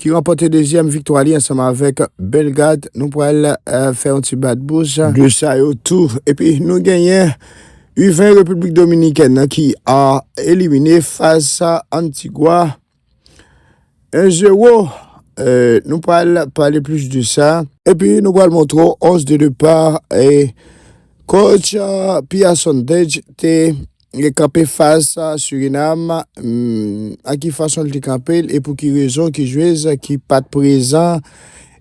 ki ranpòte dezyèm viktwa li ansanm avèk Bellegarde. Nou pral fè yon ti bat bouch. De sa yo tou. Epi nou genyen U20 Repiblik Dominikèn nan ki elimine fas a Antigwa 1 zewo. Nou pral pale plis de sa. Epi nou pral montre w 11 de depar kotch Pia Sondage te. Li kanpe fas a Surinam, nan ki fason li te kanpe l e pou ki rezon ki jwez ki pat prezan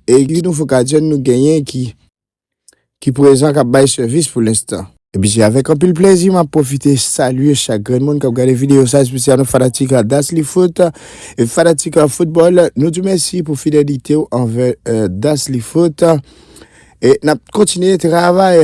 e ki nouvo gadyen nou genyen ki ki prezan kap bay sèvis pou lenstan. Epi se avèk anpil plèzi map pwofite salye chak grenn moun kap gade videyo sa espesyalman fanatik Daslyfoot e fanatik foutbòl nou di w mèsi pou fidelite w anvè Daslyfoot e nap kontinye travay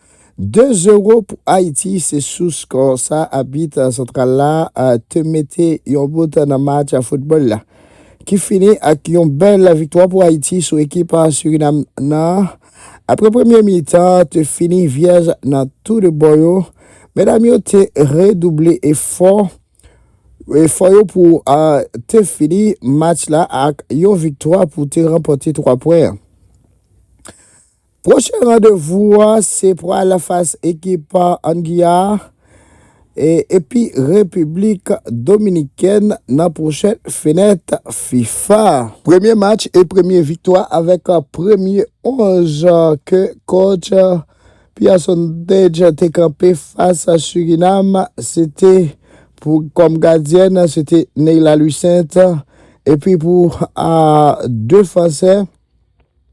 2 zero pou Ayiti se sou skò sa abit santral la te mete yon bout nan match foutbòl la ki fini ak yon bèl viktwa pou Ayiti sou ekip Surinam nan. Aprè premye mitan te fini vyèj nan tou 2 bò yo, medam yo te redouble efò efò yo pou te fini match la ak yon viktwa pou te ranpòte 3 pwen an. Pwochen randevou a se pou al fas ekip An Giyana epi Repiblik Dominikèn nan pwochen fenèt fifa. Premye match e premye viktwa avèk premye 11 ke kotch Pierre Sondage te kanpe fas Surinam se te pou kòm gadyèn se te Neyla Louissaint epi pou defansè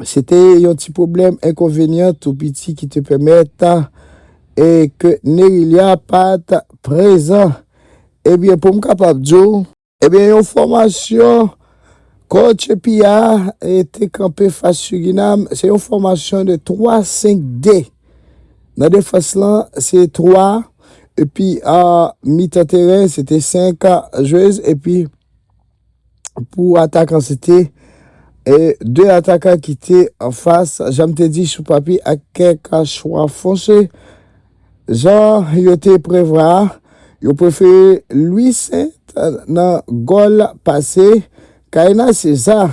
Se te yon ti pwoblèm enkonvenyan tou piti ki te pèmèt e ke Nerilya pat prezan. Ebyen pou m kapab di w. Ebyen yon fòmasyon Coach Pia te kanpe fas Surinam, se yon fòmasyon de 3, 5, 2. Nan defans lan se 3 epi mitan teren se te 5 jwez epi. pou atakan se te 2 atakan ki te an fas janm te di sou papye ak kèk chwa fonse jan yo te prevwa a, yo prefere Louis Saint nan gòl pase Kaïna César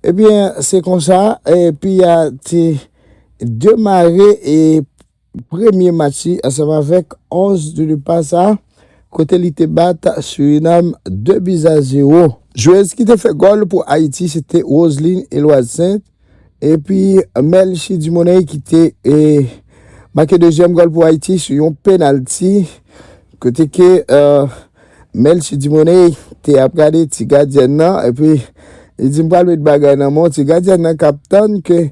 ebyen se konsa piya te demare e. premye match li ansanm avèk 11 de depa sa kote li te bat Surinam 2 buts a 0. Jwez ki te fè gòl pou Ayiti se te Roseline Eloise Saint epi Melchie Dumornay ki te make dezyèm gòl pou Ayiti sou yon penalti kote ke Melchie Dumornay te ap gade ti gadyèn nan epi li di m pral met bagay nan men w ti gadyèn nan k ap tann ke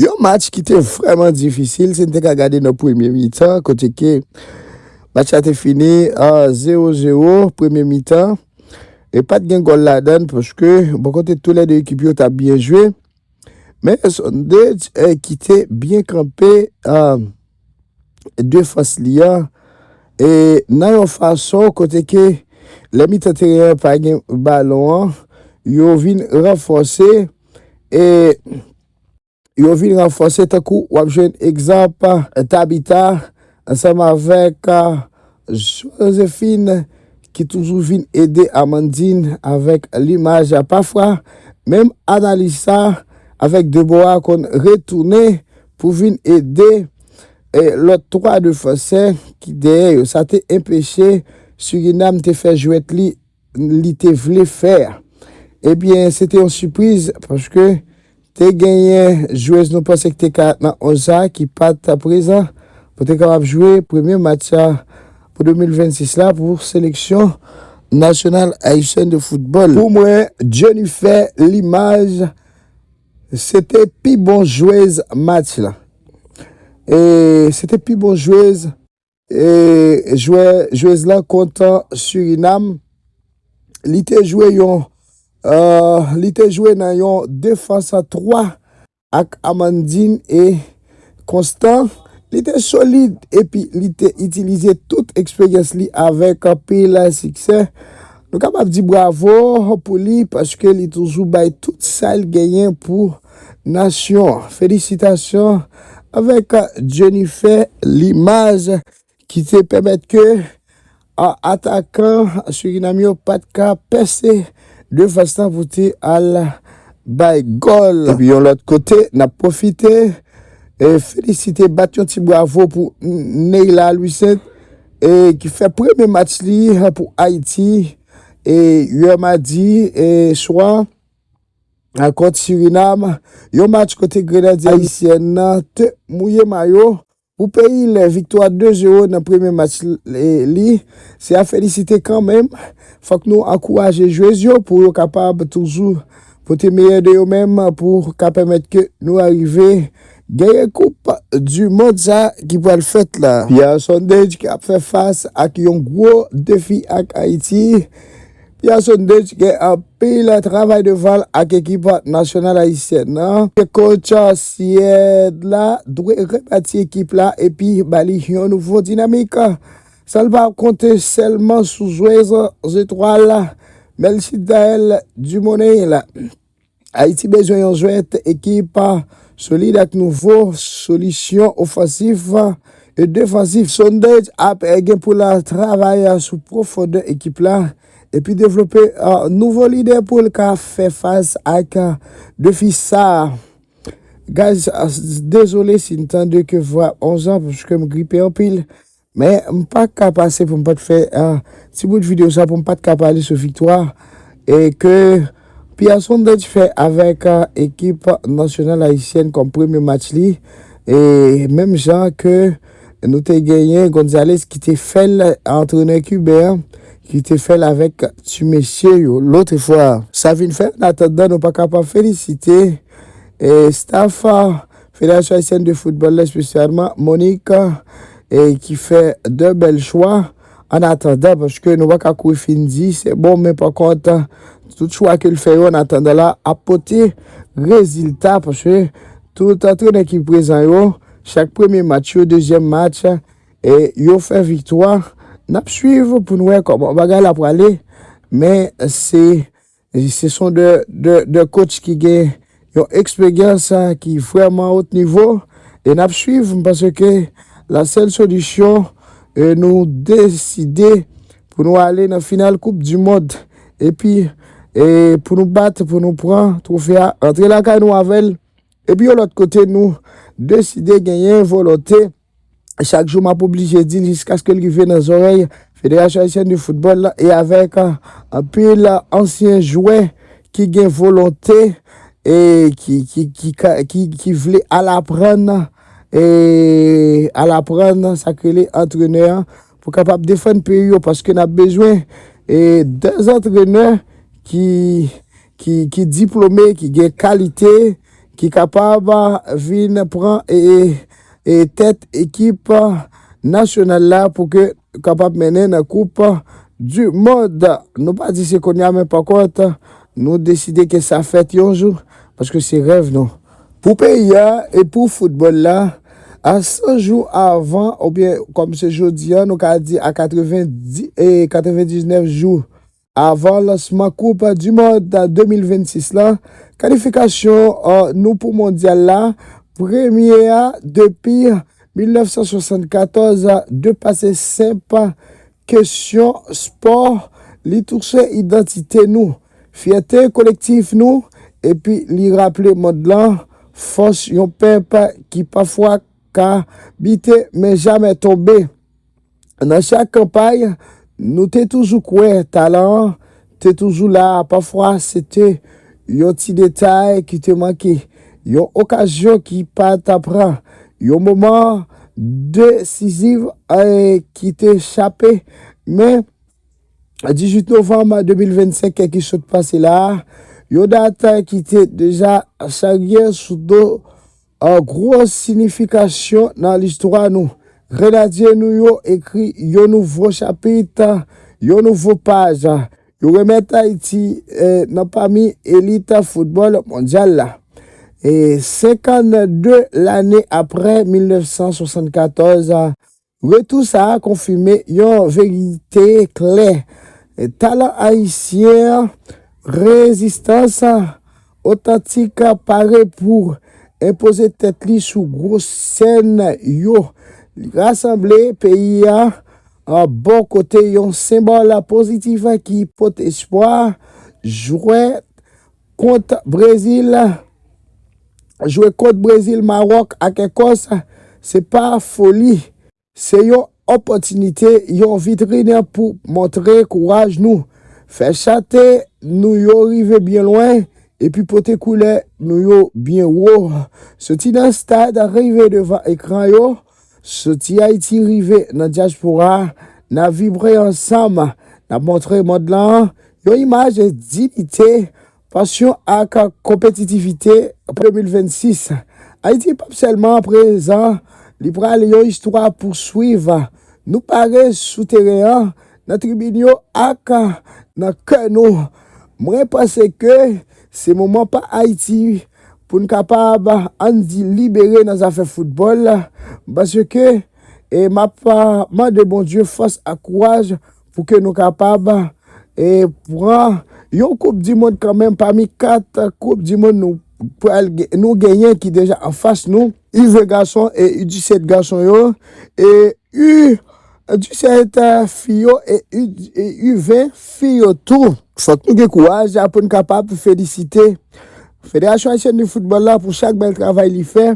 Yon match ki te vrèman difisil si n te ka gade nan premye mitan kote ke match la te fini 0 0 premye mitan e pa t gen gòl ladan l paske bò kote tou lè 2 ekip yo t ap byen jwe men Sundej ki te byen kanpe. defans li a e nan yon fason kote ke lè mitan teren an pa gen balon an yo vin ranfòse e yo vin ranfòse tankou wap jwenn egzanp Tabita ansanm avèk Josephine ki toujou vin ede Amandine avèk limaj pafwa menm Analisa avèk Deborah konn retounen pou vin ede lòt twa defansè ki dèyè yo. Sa te enpeche Surinam te fè jwèt li li te vle fè a. Ebyen, se te yon sipriz paske te genyen jwez nou panse ki te ka nan 11 sa a ki pa t prezan pou te kapab jwe premye match sa pou 2026 la pou seleksyon nasyonal ayisyèn de foutbòl. Pou mwen, Jennifer Limage. Se te pi bon jwez match la. E se te pi bon jwez. E jwè jwez la kont Surinam, li te jwe yon li te jwe nan yon defans a 3 ak Amandine e. konstan, li te solid epi li te itilize tout eksperyans li avèk anpil siksè. Nou kapab di bravo pou li paske li toujou bay tout sa l genyen pou nasyon an. Felisitasyon avèk Jennifer Limage. ki te pèmèt ke atakan Surinam yo pat ka pèse defans lan pou te al bay gòl. Epi yon lòt kote, n ap pwofite felisite, bat yon ti bwavo pou Neyla Louissaint ki fè premye match li pou Ayiti yè madi swa kont Surinam, yon match kote Grenadye Ayisyèn nan te mouye mayo Pou peyi l, viktwa 2 zero nan premye match li se a felisite kanmenm. Fòk nou ankouraje jwez yo pou yo kapab toujou pote meyè de yo menm pou ka pèmèt ke nou arive genyen koup du mond sa ki pral fèt la. Pierre Sundage ki ap fè fas ak yon gwo defi ak Ayiti. Piasson Deitch gen anpil travay devanl ak ekip nasyonal ayisyèn nan e kotch Syèd la dwe rebati ekip la epi ba li yon nouvo dinamik san l pa konte sèlman sou jwez zetwal Melchie Daelle Dumornay la. Ayiti bezwen yon jwèt ekip solid ak nouvo solisyon ofansif e defansif. Sondaj ap gen pou l travay sou pwofondè ekip la epi devlope nouvo lidè pou l ka fè fas ak defi sa a. Guys dezole si n tande ke vwa onzan paske m gripe anpil. Men m pa ka pase pou m pat fè ti bout video sa pou m pat ka pale sou viktwa e ke Pierre Sondage fè avèk ekip nasyonal ayisyèn kòm premye match li e menm jan ke nou te genyen Gonzalez ki te fèl antrenè kiben an ki te fèl avèk ti mesye yo lotre fwa. Sa vin fè an atandan nou pa kapab felisite staf Federasyon Ayisyèn de Foutbòl la espesyalman Monique e ki fè 2 bèl chwa an atandan paske nou pa ka kouri fin di se bon men pa kont tout chwa ke l fè yo an atandan la ap pote rezilta paske tout antrenè ki prezan yo chak premye match yo dezyèm match e yo fè viktwa n ap swiv pou n wè kòman bagay la prale men se E se son de de de coach ki gen yon eksperyans ki vrèman haut niveau e nap swiv m panse ke la sèl solisyon e nou deside pou nou ale nan final koup du mond epi e pou nou bat pou nou pran trofe a antre lakay nou avèl epi yon lòt kote nou deside genyen volonte chak jou map oblije dil jiskaskel rive nan zòrèy Federasyon Ayisyèn de Foutbòl la e avèk anpil ansyen jwè ki gen volonte e ki vle al aprann e al aprann sak rele antrenè pou kapab defann peyi yo paske nap bezwen e 2 antrenè ki ki diplome, ki gen kalite, ki kapab vin pran tèt ekip nasyonal la pou ke kapab mennen nan koup du mond. Nou pa di se konya men pa kont nou deside ke sa fèt yon jou paske se rèv nou. Pou peyi a e pou foutbòl la a 100 jou avan oubyen kòm se jodi a nou ka di a 90 e 99 jou Avan lansman koup du mond 2026 la, kalifikasyon nou pou mondyal la, premye a depi 1974, depase senp kesyon spò, li touche idantite nou, fyète kolektif nou epi li raple mond lan fòs yon pèp ki pafwa ka bite men jamè tonbe. Nan chak kanpay, nou te toujou kwè talan an te toujou la, pafwa se te yon ti detay ki te manke, yon okazyon ki pa ta pran, yon moman desizif ki te chape. Men, 18 novanm 2025 ki sot pase la a, yon dat ki te deja charye sou do An gwo sinifikasyon nan listwa nou, grenadye nou yo ekri yon nouvo chapit, yon nouvo paj. Yo remèt Ayiti nan pami elit foutbòl mondyal la. 52 lane apre 1974, Retou sa a konfime yon verite klè, talan ayisyen an, rezistans otantik, pare pou enpoze tèt li sou gwo sèn yo. Li rasanble peyi a bò kote yon senbòl pozitif ki pote espwa, jwèt Kont Brezil, Jwe kont Brezil, Mawòk ak Ekòs se pa foli. Se yon opòtinite, yon vitrin pou montre kouraj nou, fè chante nou yo rive byen lwen epi pote koulè nou yo byen wo. Soti nan stad rive devan ekran yo. Soti Ayiti rive nan dyaspora a, n ap vibre ansanm, n ap montre mond lan yon imaj diyite, pasyon ak konpetitivite. Pou 2026, Ayiti pap sèlman prezan, li pral yon istwa pou swiv. Nou pare sou teren an, nan tribin yo ak nan kè nou. Mwen panse ke Se moman pa Ayiti pou n kapab, ann di, libere nan zafè foutbòl, paske m ap mande Bondye fòs ak kouraj pou ke nou kapab pran yon koup di mond kanmenm pami 4 koup di mond nou pral nou genyen ki deja anfas nou. U20 gason e U17 gason yo e U Edisyen eta fi yo e U20 fi yo tou. Fòk nou gen kouraj pou n kapab felisite Federasyon Ayisyèn de Foutbòl la pou chak bèl travay li fè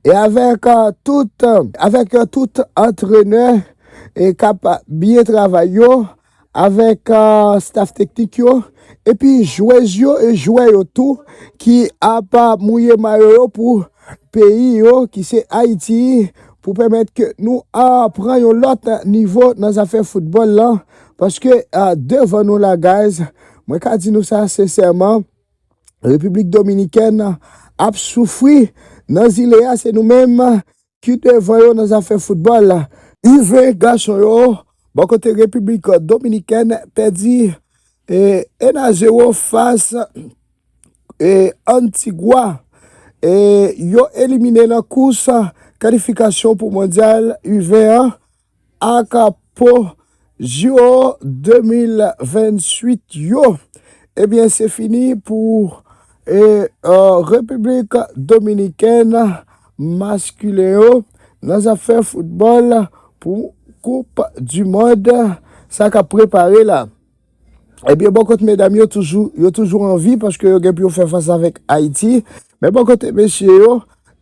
e avèk tout avèk tout antrenè kap byen travay yo avèk staf teknik yo epi jwez yo e jwè yo tou ki ap mouye mayo yo pou peyi yo ki se Ayiti pou pèmèt ke nou pran yon lòt nivo nan zafè foutbòl la paske devan nou la guys mwen ka di nou sa sensèman Repiblik Dominikèn ap soufri nan zile a se nou menm ki devan yo nan zafè foutbòl. U-20 gason yo bò kote Repiblik Dominikèn pèdi 1 a 0 fas Antigwa. Yo elimine nan kous kalifikasyon pou Mondyal U-20 an. ak po JO 2028 yo ebyen se fini pou Repiblik Dominikèn maskilen yo nan zafè foutbòl pou koup du mond sa kap prepare la. Ebyen bò kot medam yo toujou yo toujou an vi paske yo gen pou yo fè fas avèk Ayiti men bò kote mesye yo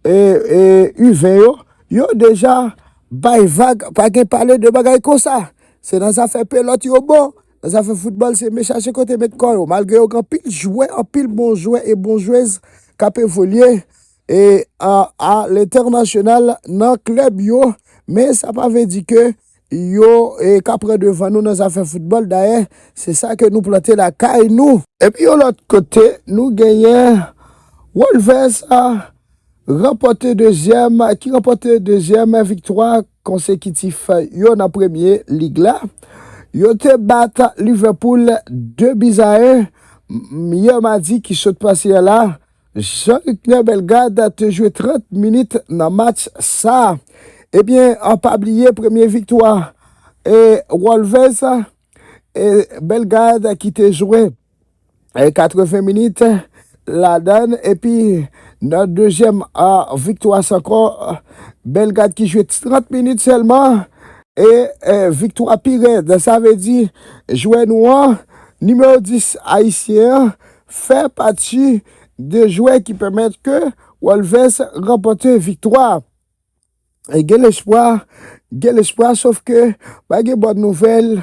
e e uven yo yo deja bay vag pa gen pale de bagay konsa se nan zafè pelòt yo bon nan zafè foutbòl se me chache kote met kò yo malgre yo gen anpil jwè anpil bon jwè e bon jwez k ap evolye e a a lentènasyonal nan klèb yo men sa pa vle di ke yo ka pran devan nou nan zafè foutbòl, dayè se sa ke nou plante lakay nou. Epi yon lòt kote nou genyen Wolves ranpòte dezyèm, ki ranpòte dezyèm viktwa konsekitif yo nan premye lig la. Yo te bat Liverpool 2 bis a 1 yè madi ki sot pase a la Jean Luckner Bellegarde te jwe 30 minit nan match sa. Ebyen an pa bliye premye viktwa e Wolves e Bellegarde ki te jwe 80 minit ladann epi nan dezyèm viktwa sa ankò Bellegarde ki jwe 30 minit sèlman e viktwa pi rèd. Sa vle di jwè nou an, nimewo 10 ayisyen an fè pati de jwè ki pèmèt ke Wolves ranpòte viktwa. Gen lespwa, gen lespwa sof ke pa gen bòn nouvèl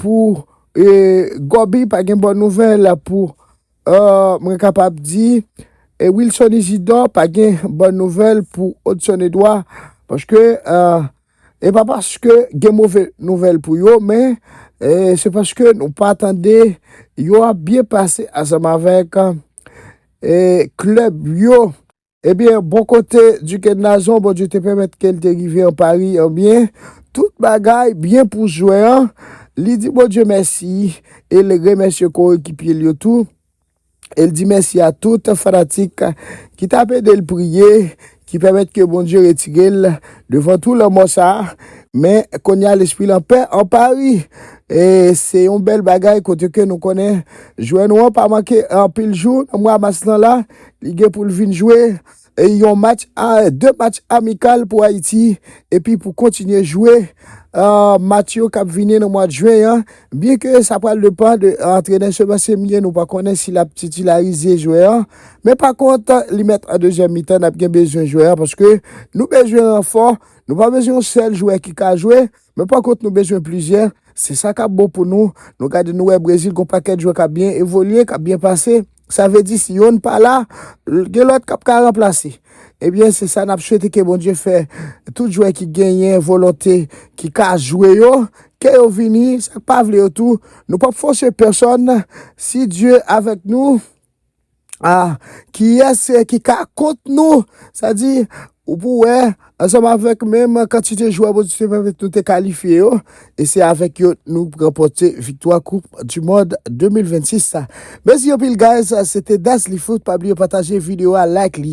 pou Goby, pa gen bòn nouvèl pou mwen kapab di Wilson Isidor, pa gen bòn nouvèl pou Hudson Edouard paske E pa paske gen move nouvèl pou yo, men se paske nou pa tande yo ap byen pase ansanm avèk klèb yo. Ebyen, bò kote Duken Nazon, Bondye te pèmèt ke l te rive an Pari an byen. Tout bagay byen pou jwè an. Li di Bondye mèsi e l remèsye korekipye l yo tou. e l di mèsi a tout fanatik ki t ap ede l priye ki pèmèt ke Bondye retire l devan tou lanmò sa a men kounye a lespri l anpè an Pari e se yon bèl bagay kote ke nou konnen jwè nou an pa manke anpil jou nan mwa mas lan la li gen pou l vin jwe yon match, 2 match amikal pou Ayiti epi pou kontinye jwe match yo k ap vini nan mwad Jwen an. Byen ke sa pral depan de antrenè Seba Semyen, nou pa konnen si l ap titilarize jwè an. Men pa kont, li mèt an dezyèm mitan n ap gen bezwen jwè an paske nou bezwen ranfò, nou pa bezwen yon sèl jwè ki ka jwe. Men pa kont nou bezwen plizyè, se sa kap bon pou nou, nou gade nou wè Brezil gon pakèt jwè kap byen evolye, kap byen pase, sa vle di si yonn pa la, gen lòt kap ka ranplase. Ebyen se sa nap swete ke Bondye fè tout jwè ki genyen volonte ki ka jwe yo, ke yo vini, sak pa vle yo tou, nou pap fòse pèsòn, si Dye avèk nou. Ah kiyès ki ka kont nou? Sa di, ou pou wè, ansanm avèk menm kantite jwè Bondye te pèmèt nou te kalifye yo, e se avèk yo nou ranpòte viktwa koup du mond 2026 la. Mèsi anpil guys, se te Dazlyfoot, pa bliye pataje video a, like li.